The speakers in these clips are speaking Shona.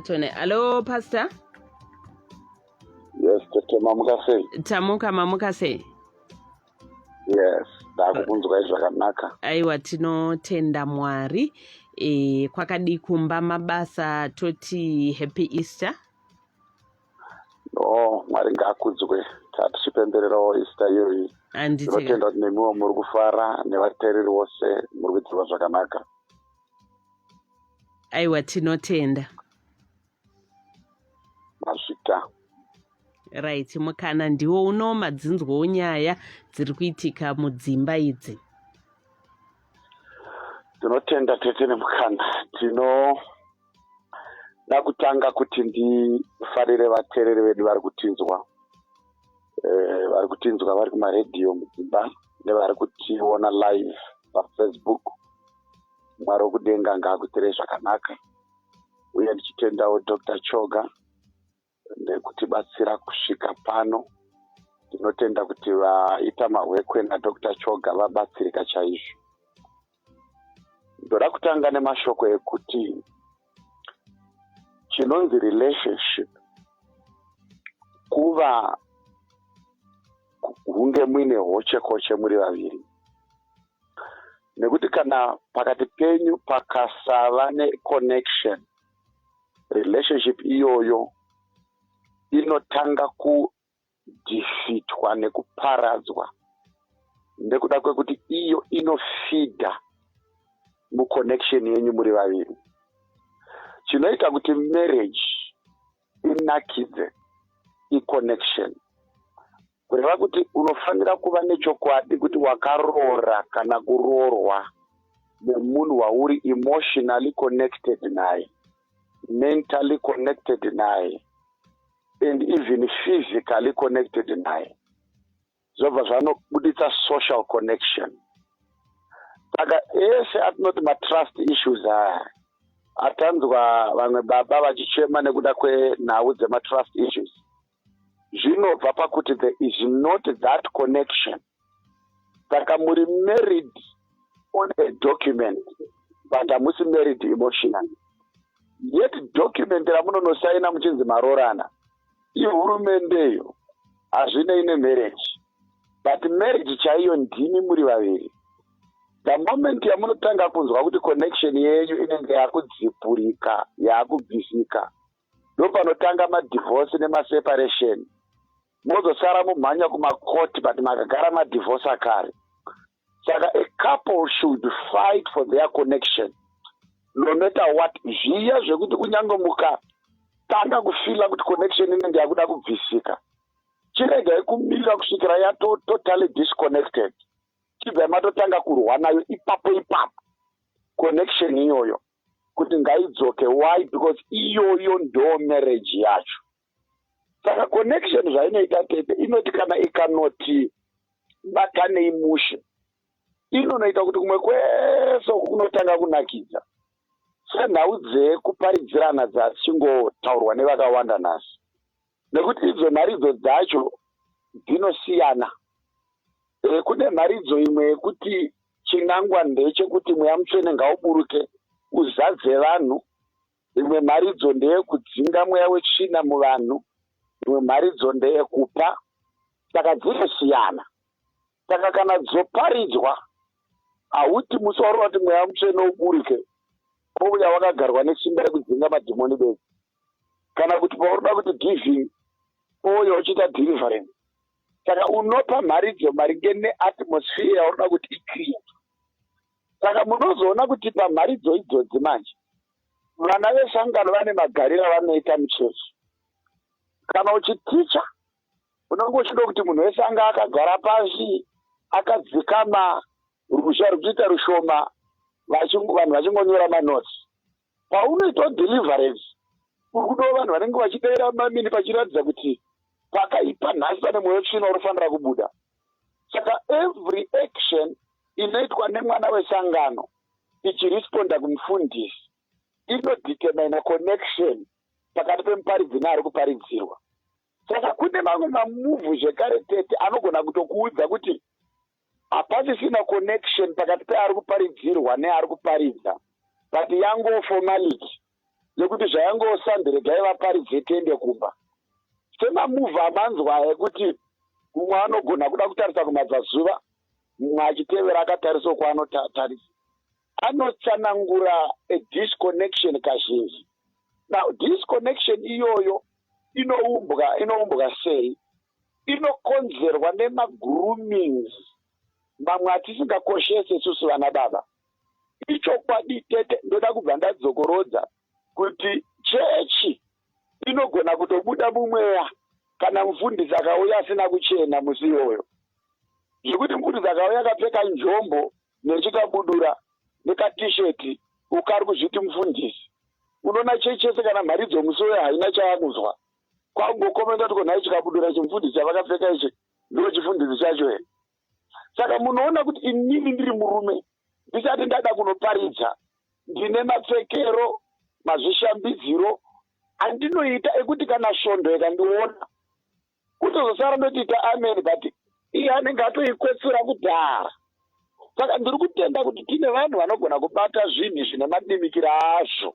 tone alo pastor yes tete mamuka sei tamuka mamuka sei yes ndakukunzwai zvakanaka aiwa tinotenda mwari e, kwakadii kumba mabasa toti happy easter no mwari ngaakudzwe tatichipembererawo easter iyoyi anditi tinotenda kuti nemiwo muri kufara nevateereri vose muri kuitirwa zvakanaka aiwa tinotenda mazvita right mukana ndiwo uno madzinzwawo nyaya dziri kuitika mudzimba idzi tinotenda tete nemukana tinoda kutanga kuti ndifarire vateereri vedu vari kutinzwa eh, vari kutinzwa vari kumaradio mudzimba nevari kutiona live pafacebook mwari wokudenga ngaakutirei zvakanaka uye ndichitendawo dr choga nekutibatsira kusvika pano tinotenda kuti vaita mahwekwe nadr choga vabatsirika chaizvo ndoda kutanga nemashoko ekuti chinonzi relationship kuva hunge muine hoche koche muri vaviri nekuti kana pakati penyu pakasava neconnection relationship iyoyo inotanga ku kudhifitwa nekuparadzwa nekuda kwekuti iyo inofidha muconnection yenyu muri vaviri chinoita kuti marriage inakidze iconnection kureva kuti unofanira kuva nechokwadi kuti wakaroora kana kuroorwa nemunhu wauri emotionally connected naye mentally connected naye and even physically connected naye zvobva zvanobuditsa social connection saka ese atinoti matrust issues aya atanzwa vamwe baba vachichema nekuda kwenhau dzematrust issues zvinobva pakuti there is not that connection saka muri married on a document but hamusi married emotional yet document ramunonosaina muchinzi maroorana ihurumende iyo hazvinei nemarriage but marriage chaiyo ndimi muri vaviri the moment yamunotanga kunzwa kuti connection yenyu inenge yakudzipurika yakubvisika ndopanotanga madivorce nemaseparation mozosara mumhanya kumakoti but makagara madivhosa kare saka a couple should fight for their connection no matter what zviya zvekuti kunyange mukatanga kufila kuti connection inenge yakuda kubvisika chiregai kumirira kusvikira yatototally disconnected chibvai matotanga kurwa nayo ipapo ipapo connection iyoyo kuti ngaidzoke why because iyoyo ndo marriage yacho saka connection zvainoita tete inoti kana ikanoti batanei mushe inonoita kuti kumwe kwese uku kunotanga kunakidza senhau dzekuparidzirana dzachingotaurwa nevakawanda nhasi nekuti idzo nharidzo dzacho dzinosiyana e, kune mharidzo imwe yekuti chinangwa ndechekuti mweya mutsvene ngauburuke uzadze vanhu Imwe mharidzo ndeyekudzinga mweya wetsvina muvanhu, imwe mharidzo ndeyekupa. Saka dzinosiyana. Saka kana dzoparidzwa, hauti musi wauri wati mweya mutsvene uburuke kouya wakagarwa nesimba rekudzinga madhimoni bedzi, kana kuti pauri da kuti giving ouya uchiita deliverance. Saka unopa mharidzo maringe neatmosphere yauri da kuti icreate. saka munozoona kuti pamharidzo idzodzi manje vana vesangano vane magariro avanoita muchechi kana uchiticha unenge uchida kuti munhu wese anga akagara pasi akadzikama ruzha rwuchiita rushoma vanhu vachingonyora manotsi Paunoitawo deliverance uri kudawo vanhu vanenge vachidaira mamini pachiratidza kuti pakaipa nhasi pane mwoyo tsvina unofanira kubuda saka every action inoitwa nemwana wesangano ichiresponda kumufundisi inodetermina connection pakati pemuparidzi neari kuparidzirwa saka kune mamwe mamuvhu zvekare tete anogona kutokuudza kuti hapasisina connection pakati peari kuparidzirwa neari kuparidza but yango formality yekuti zvayangosandi regai vaparidze tiende kumba semamuva amanzwa ekuti mumwe anogona kuda kutarisa kumabvazuva mumwe achitevera akatarisa kwaanotarisa anotsanangura adisconnection kazhinji now disconnection iyoyo inoumbwa inoumbwa sei inokonzerwa nemagroomings mamwe atisingakoshese isusu vana baba ichokwadi tete ndoda kubva ndadzokorodza kuti chechi inogona kutobuda mumweya kana mufundisi akauya asina kuchena musi iyoyo zvekuti mufundisi akauya akapfeka njombo nechikabudura nekatisheti ukari kuzviti mufundisi unoona chechi yese kana mharidzo musi uyo haina chayakuzwa kwakungokomenta kuti ko nhai chikabudura chimufundisi chavakapfeka ichi ndo chifundisi chacho here saka munoona kuti inini ndiri murume ndisati ndada kunoparidza ndine mapfekero mazvishambidziro andinoita ekuti kana svondo ikandiona kutozosara ndotiita amen but iye anenge atoikwetsura kudhara saka ndiri kutenda kuti tine vanhu vanogona kubata zvinhu zvine madimikira azvo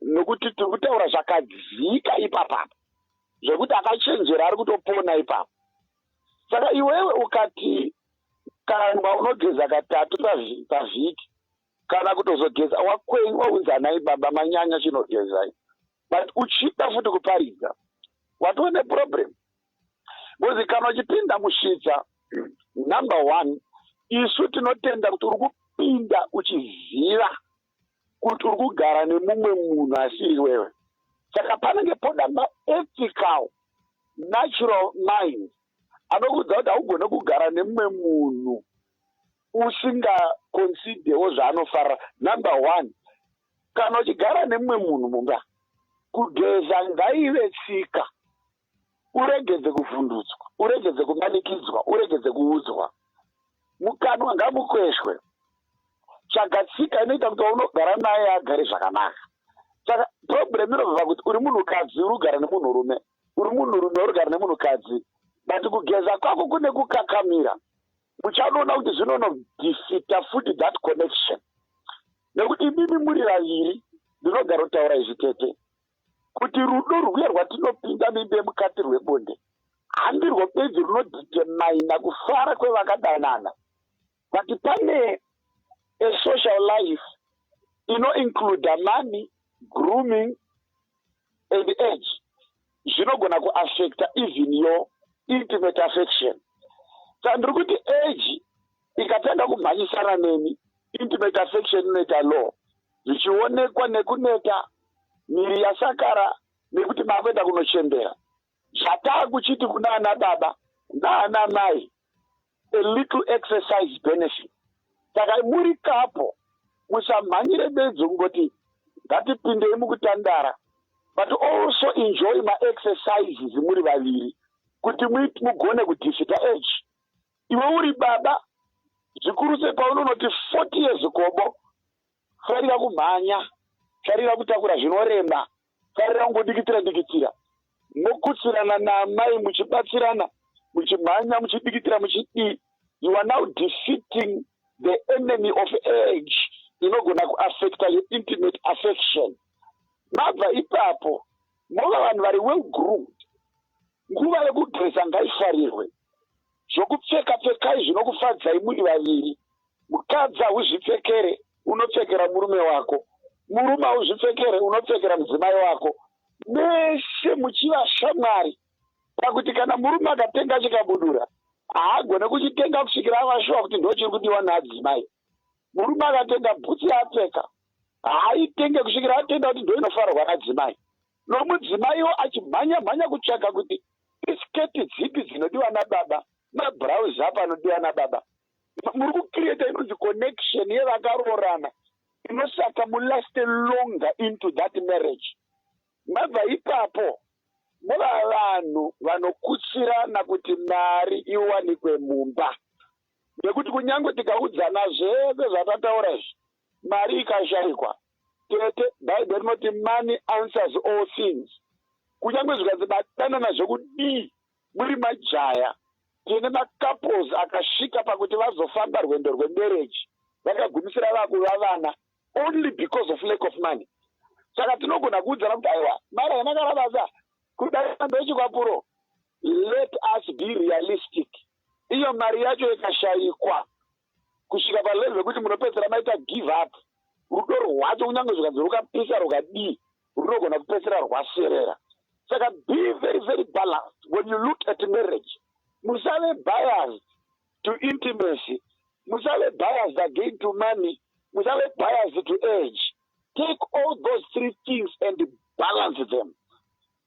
nokuti tiri kutaura zvakadzika ipapa zvekuti akachenjera ari kutopona ipapa saka iwewe ukati kangwa unogeza katatu pavhiki kana kutozogeza wakwenyu waunzanai baba manyanya chinogezai but uchida futi kuparidza watove neproblem bcozi kana uchipinda musvitsa number one isu tinotenda kuti uri kupinda uchiziva kuti uri kugara nemumwe munhu asiri iwewe saka panenge poda maethical natural mind anokuudza kuti haugone kugara nemumwe munhu usingaconsidewo zvaanofarira number one kana uchigara nemumwe munhu mumba kugeza ngaive tsika Uregedze kuvhundutswa, uregedze kumanikidzwa, uregedze kuudzwa. Mukanwa ngamukweshwe. Tsvaga tsika inoita kuti waunogara naye agare zvakanaka. Saka problem inobva pakuti uri munhukadzi uri kugara nemunhurume, uri munhurume uri kugara nemunhukadzi, but kugeza kwako kune kukakamira. Muchanoona kuti zvinonodefita futi that connection nekuti imimi muri vaviri ndinogarotaura izvi tete. kuti rudo rwuye rwatinopinda mimbe mukati rwebonde handirwo bedzi runodhitemaina kufara kwevakadanana but pane esocial life inoincluda money grooming and age zvinogona kuaffecta even your intimate affection saka ndiri kuti age ikatanga kumhanyisana neni intimate affection inoita law zvichionekwa nekuneta miri yasakara nekuti makuenda kunochembera zvataa kuchiti kuna ana baba naana mai a little exercise benefit saka muri kapo musamhanyire bedzo kungoti ngatipindei mukutandara but also enjoy maexercises muri vaviri kuti mugone kudifita age iwe uri baba zvikuru sei paunonoti 40 years gobo farira kumhanya farira kutakura zvinorema farira kungodikitira dikitira mokutsirana naamai muchibatsirana muchimhanya muchidikitira muchidii you are now defeating the enemy of age inogona kuaffecta your intimate affection mabva ipapo Nguva vanhu vari well groomed, nguva yekudresa ngaifarirwe. Zvokupfeka pfekai zvinokufadzai muri vaviri. Mukadzi hauzvipfekere unopfekera murume wako, murume hauzvipfekere unopfekera mudzimai wako, mese muchiva shamwari pakuti kana murume akatenga chikabudura haagone kuchitenga kusvikira avashuwa kuti ndochiri kudiwa naadzimai. Murume akatenga bhutsu yaapfeka haaitenge kusvikira atenda kuti ndoinofarwa nadzimai. Nomudzimaiwo achimhanya mhanya kutsvaga kuti isiketi dzipi dzinodiwa nababa, mabhurauzi api anodiwa nababa. Muri kucreata inonzi connection yevakaroorana inosaka mulaste longer into that marriage. Mabva ipapo mova vanhu vanokutsirana kuti mari iwanikwe mumba. nekuti kunyange tikaudzana zvese zvatataura izvi mari ikashaikwa tete bhaibheri rinoti money answers all things kunyange zvikanzi batanana zvekudii muri majaya tine macouples akasvika pakuti vazofamba rwendo rwemereji vakagumisira vakuva vana only because of lack of money saka tinogona kuudzana kuti aiwa mari haina karabasa kudaambechikwapuro let us be realistic iyo mari yacho ikashaikwa kusvika palevel yekuti munopedzisira maita give up rudo rwacho kunyange zvikanzi rukapisa rukadii runogona kupedzisira rwaserera saka be very very balanced when you look at marriage musave biased to intimacy musave biased again to money musave biased to age take all those three things and balance them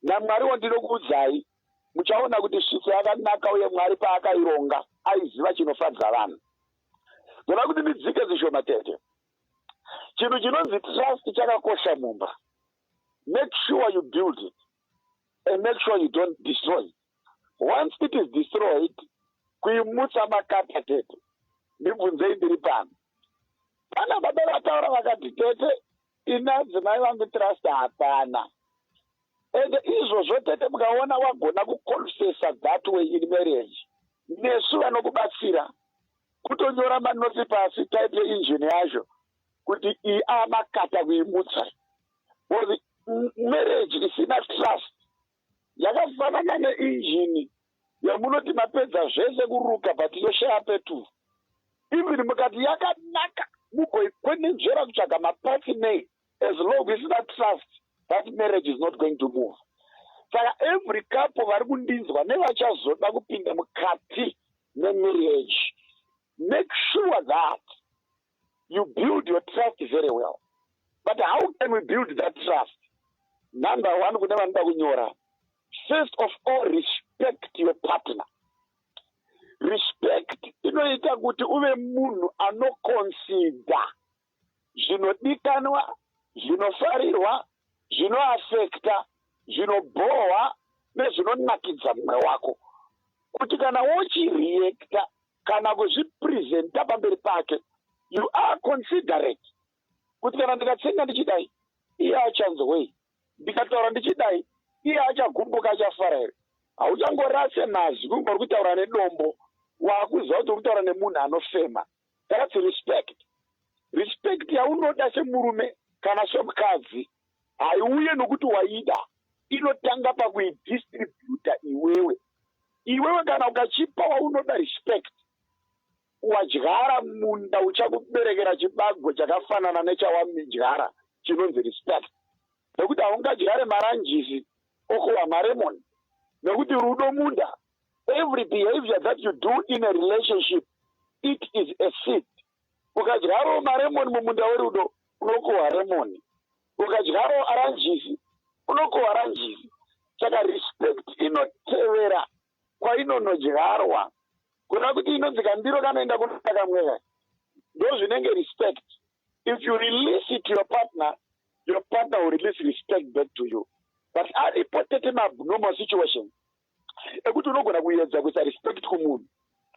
namwari wandinokuudzai Muchaona kuti svitsa yakanaka uye Mwari paakaironga aiziva chinofadza vanhu. Ndoda kuti ndidzike zvishoma tete. Chinhu chinonzi trust chakakosha mumba. Make sure you build it and make sure you don't destroy it. Once it is destroyed, kuimutsa makata tete. Ndibvunzei ndiri pano. Pana baba vataura vakati tete ini adzimai vangu trust hapana and izvozvo tete mukaona wagona kuconfesa that way in marriage nesu vanokubatsira kutonyora manoti pasi type yeinjini yazvo kuti iyi amakata kuimutsa or marriage isina trust Yakafanana neinjini yamunoti mapedza zvese kuruka but yoshaya peturu. Even mukati yakanaka mugoikwenenzvera kutsvaga mapatsi nei as long isina trust that marriage is not going to move. Saka every couple vari kundinzwa nevachazoda kupinda mukati memarriage make sure that you build your trust very well but how can we build that trust number one kune vanoda kunyora first of all respect your partner respect inoita kuti uve munhu anokonsida zvinodikanwa zvinofarirwa zvinoafekta zvinobhohwa nezvinonakidza mumwe wako kuti kana wochireacta kana kuzvipresenta pamberi pake you are considerate kuti kana ndikatsenga ndichidai iye achanzwei ndikataura ndichidai iye achagumbuka achafara here hauchangorase mazwi kunge uri kutaura nedombo waakuziva kuti uri kutaura nemunhu anofema that's respect respect yaunoda semurume kana semukadzi haiuye nokuti waida inotanga pakuidistributa iwewe iwewe kana ukachipa waunoda respect wadyara munda uchakuberekera chibago chakafanana nechawamidyara chinonzi respect nokuti haungadyare maranjisi okowa maremon nokuti rudo munda every behavior that you do in a relationship it is a seed Ukadyarawo maremoni mumunda werudo, unokohwa remoni. Ukadyarawo aranjisi, unokohwa aranjisi. Saka respect inotevera kwainonodyarwa. Kureva kuti inonzi kandiro kanoenda kunoda kamweya. Ndozvinenge respect. If you release it to your partner, your partner will release respect back to you. But aripo tete maabnormal situations ekuti unogona kuyedza kuisa respect kumunhu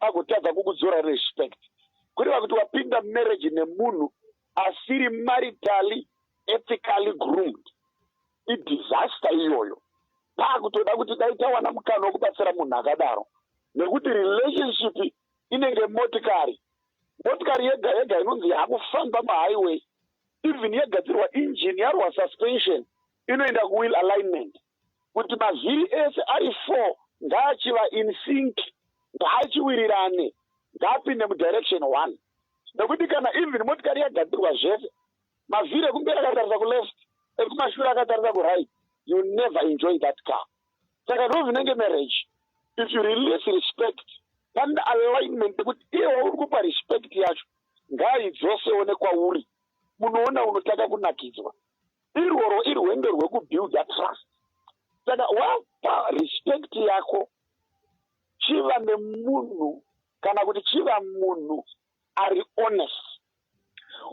agotadza kukudzora respect kureva kuti wapinda marriage nemunhu asiri maritally ethically groomed idisaster iyoyo paakutoda kuti dai tawana mukana wekubatsira munhu akadaro nekuti relationship inenge motikari motikari yega yega inonzi yakufamba mahighway even yegadzirwa engine yarwa suspension inoenda kuwill alignment kuti mazviri ese ari four ngaachiva in sync ngaachiwirirane ngaapinde mudirection one nekuti kana even motikari yagadzirwa zvese mavhiri ekumberi akatarisa kuleft ekumashure akatarisa kuright you never enjoy that car saka ndo zvinenge marriage if you release respect pane alignment yekuti iye wauri kupa respect yacho ngaidzosewo nekwauri munoona unotanga kunakidzwa irworwo irwendo rwekubuilda trust saka wapa respect yako chiva nemunhu kana kuti chiva munhu ari honest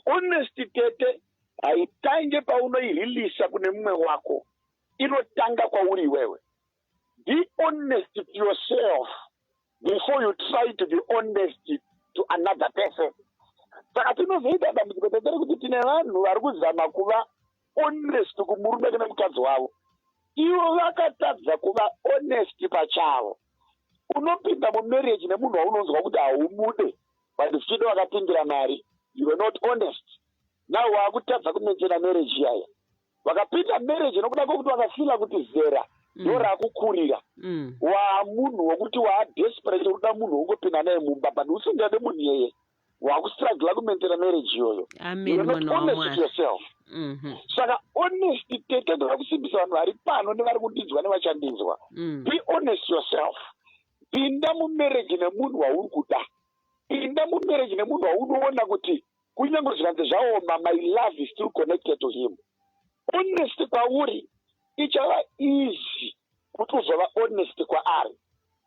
honest tete haitange paunoirilisa kune mumwe wako inotanga kwauri iwewe Be honest to yourself before you try to be honest to another person. Saka tinozoita dambudziko tatari kuti tine vanhu vari kuzama kuva honest kumurume kana mukadzi wavo, ivo vakatadza kuva honest pachavo. Unopinda mumarriage nemunhu waunonzwa kuti haumude but zvichida wakapindira mari, you were not honest. Now wakutadza kumaintaina marriage iyaya. vakapinda marriage nokuda kwekuti vakafila kuti zera mm. ndo rakukurira mm. wamunhu wekuti waadesperate ukuda munhu wongopinda naye mumba but usingade munhu yeye wakustrugla kumentera marriage iyoyo yourself mhm. saka honesty tete ndoda kusimbisa vanhu vari pano nevari kundinzwa nevachandinzwa mm. be honest yourself pinda mumarriage nemunhu wauri kuda pinda mumarriage nemunhu waunoona kuti Kunyange zvikanzi zvaoma, my love is still connected to him. Honest kwauri ichava easy kuti uzova honest kwaari.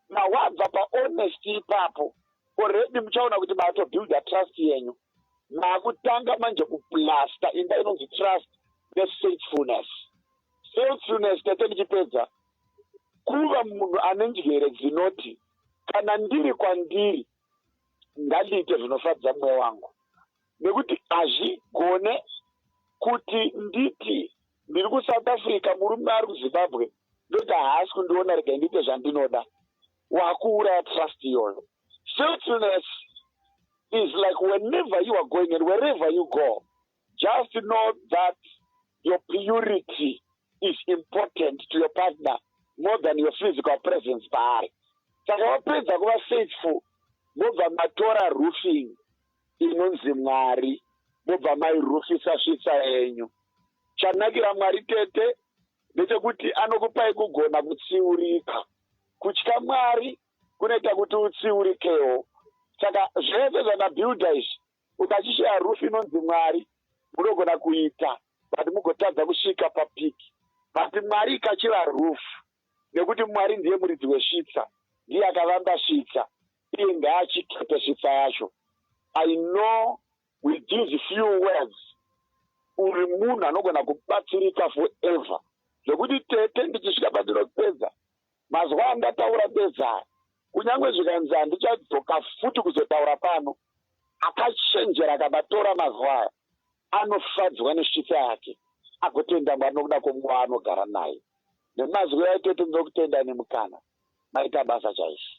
Na wabva pa honest ipapo already muchaona kuti mato builda trust yenyu. Makutanga manje kuplasta imba inonzi trust ne faithfulness. Faithfulness tete ndichipedza kuva munhu ane njere dzinoti kana ndiri kwandiri ngandiite zvinofadza mweya wangu nekuti hazvigone kuti nditi ndiri kusouth africa murume ari kuzimbabwe ndoga haasi kundiona rega ndiite zvandinoda wakuuraya trust iyoyo filthiness is like whenever you are going and wherever you go Just know that your purity is important to your partner more than your physical presence paari saka wapedza kuva faithful mobva matora roofing inonzi mwari mobva mairufisa svitsa yenyu chanakira mwari tete ndechekuti anokupai kugona kutsiurika kutya mwari kunoita kuti utsiurikewo saka zvese zvamabuilda izvi Ukachishaya roof inonzi Mwari munogona kuita but mugotadza kusvika papeak. But Mwari ikachiva roof nekuti Mwari ndiye muridzi wesvitsa ndiye akavamba svitsa iye ngaachikepe svitsa yacho. I know with these few words uri munhu anogona kubatsirika forever zvekuti tete ndichisvika pandinopedza Mazwi andataura ndezaya, kunyange zvikanzi handichadzoka futi kuzotaura pano. Akachenjera akabatora mazwi aya anofadzwa nesvitsa yake agotenda Mwari nokuda kwomumwe waanogara naye. Nemazwi aya tete ndinokutendai nemukana. Maita basa chaizvo.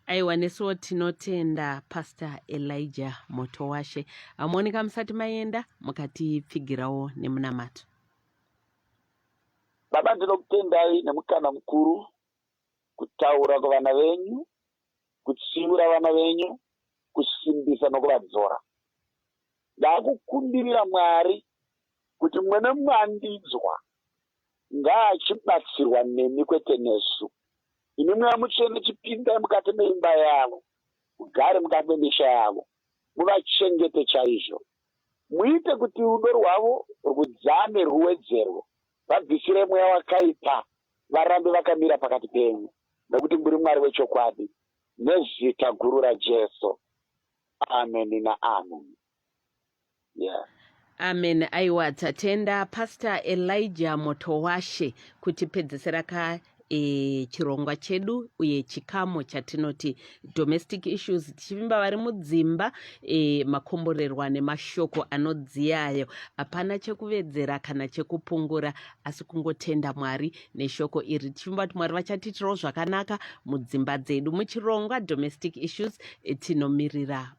aiwa nesuwo tinotenda pastor elijah moto washe hamuoneka musati maenda mukatipfigirawo nemunamato Baba ndinokutendai nemukana mukuru kutaura kuvana venyu, kutsiura vana venyu, kusimbisa nokuvadzora. Ndakukumbirira Mwari kuti mumwe nemumwe andinzwa ngaachibatsirwa nemi kwete nesu. Imi Mweya Mutsvene chipindai mukati meimba yavo, mugare mukati memisha yavo, muvachengete chaizvo. Muite kuti rudo rwavo rwudzame rwuwedzerwe, vabvisire mweya wakaipa, varambe vakamira pakati penyu, nokuti muri Mwari wechokwadi, nezita guru raJesu. Ameni naameni. Yeah. Amen. Aiwa tatenda Pastor Elijah Motowashe kutipedzesera ka e, chirongwa chedu uye chikamo chatinoti domestic issues tichivimba vari mudzimba e, makomborerwa nemashoko anodziyayo hapana chekuvedzera kana chekupungura asi kungotenda mwari neshoko iri tichivimba kuti mwari vachatiitirawo zvakanaka mudzimba dzedu muchirongwa domestic issues e, tinomirira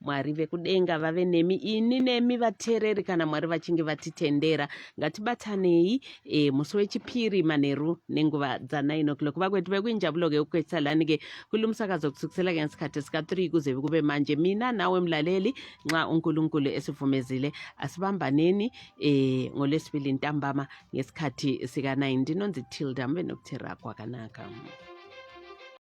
mwari vekudenga vave nemi ini nemi vateereri kana mwari vachinge vatitendera ngatibatanei e, musi wechipiri manheru nenguva dza9 o'clock vakweti vekuinjabuloke ukwesalanike kulumusakazo kusukusela ngesikhathi sika-3 kuze kube manje mina nawe mlaleli nxa unkulunkulu esivumezile asibambaneni e, ngolwesibili ntambama ngesikhathi sika-9 ndinonzi tilda mbe nokuthera kwakanaka